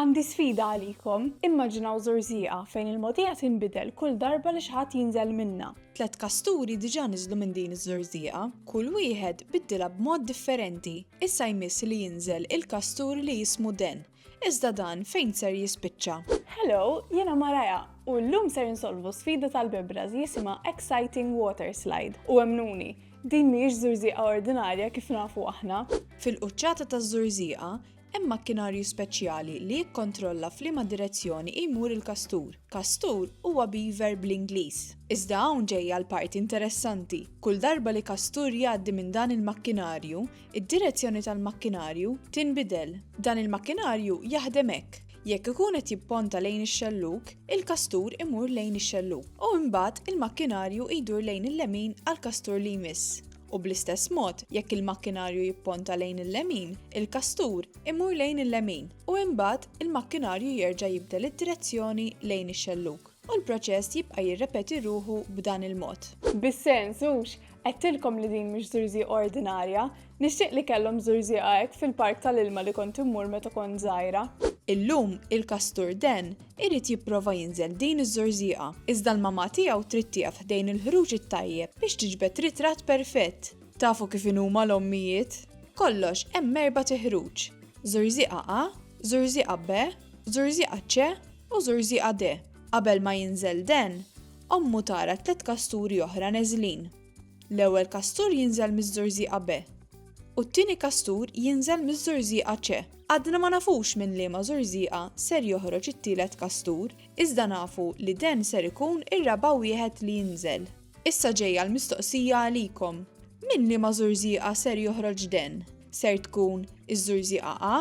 Għandi sfida għalikom, immaġinaw żurżieqa fejn il-mogħdija tinbidel kull darba li xi ħadd jinżel minnha. Tliet kasturi diġà niżlu minn din iż-żurżieqa. Kull wieħed biddilha b'mod differenti. Issa jmiss li jinżel il-kastur li jismu Dan. Iżda Dan fejn ser jispiċċa? Hello, jiena Mariah, u llum ser insolvu sfida tal-bebras li jisimha Exciting Water Slide. U emmnuni, din mhijiex żurżieqa ordinarja kif nafu aħna. Fil-quċċata taż-żurżieqa, Hemm makkinarju speċjali li jikkontrolla f'liema direzzjoni jmur il-kastur. Kastur huwa beaver bl-Ingliż. Iżda hawn ġejja l-parti interessanti. Kull darba li kastur jgħaddi minn dan il-makkinarju, id-direzzjoni tal-makkinarju tinbidel. Dan il-makkinarju jaħdem hekk, jekk ikun qed jipponta lejn ix-xellug, il-kastur imur lejn ix-xellug u imbagħad il-makkinarju jdur lejn il-lemin għall-kastur li jmiss. u bl-istess mod jekk il-makkinarju jipponta lejn il-lemin, il-kastur imur lejn il-lemin u imbagħad il-makkinarju jerġa' jibdel id-direzzjoni lejn ix-xellug u l-proċess jibqa' jirrepeti ruħu b'dan il-mod. Bis-sens, hux, għedtilkom li din mhix żurżieqa ordinarja, nixtieq li kellhom żurżieqa hekk fil-park tal-ilma li kont immur meta kont żgħira. Illum il-kastur den Irid jipprova jinżel din iż-żorżieqa, iżda l-mamà tiegħu trid tieqaf ħdejn il-ħruġ it-tajjeb biex tiġbed ritratt perfett. Tafu kif inhuma l-ommijiet? Kollox hemm erbat iħruġ, żorżieqa A, żorżieqa B, żorżieqa C u żorżieqa D. Qabel ma jinżel Dan, ommu tara tliet kasturi oħra neżlin. L-ewwel kastur jinżel miż-żurżieqa B u t-tieni kastur jinżel miż-żurżieqa C. Għadna ma nafux minn liema żurżieqa ser joħroġ it-tielet kastur, iżda nafu li den ser ikun ir-raba' wieħed li jinżel. Issa ġejja l-mistoqsija għalikom, minn liema żurżieqa ser joħroġ den? Ser tkun iż-żurżieqa A?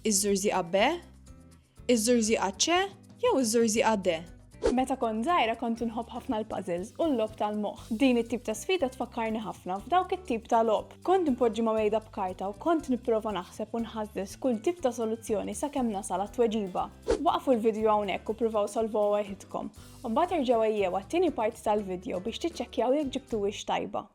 Iż-żurżieqa B? Iż-żurżieqa C jew iż-żurżieqa D? Meta kont żgħira kont inħobb ħafna l-puzzles u l-logħob tal-moħħ. Din it-tip ta' sfida tfakkarni ħafna f'dawk it-tip ta' logħob. Kont npoġġi ma' mejda b'karta u kont nipprova naħseb u nħażżeż kull tip ta' soluzzjoni sakemm nasal għat-tweġiba. Waqqfu l-vidjo hawnhekk u pruvaw solvuha waħidkom. U mbagħad erġgħu għejjew għat-tieni parti tal-vidjo biex tiċċekkjaw jekk ġibtuhiex tajba.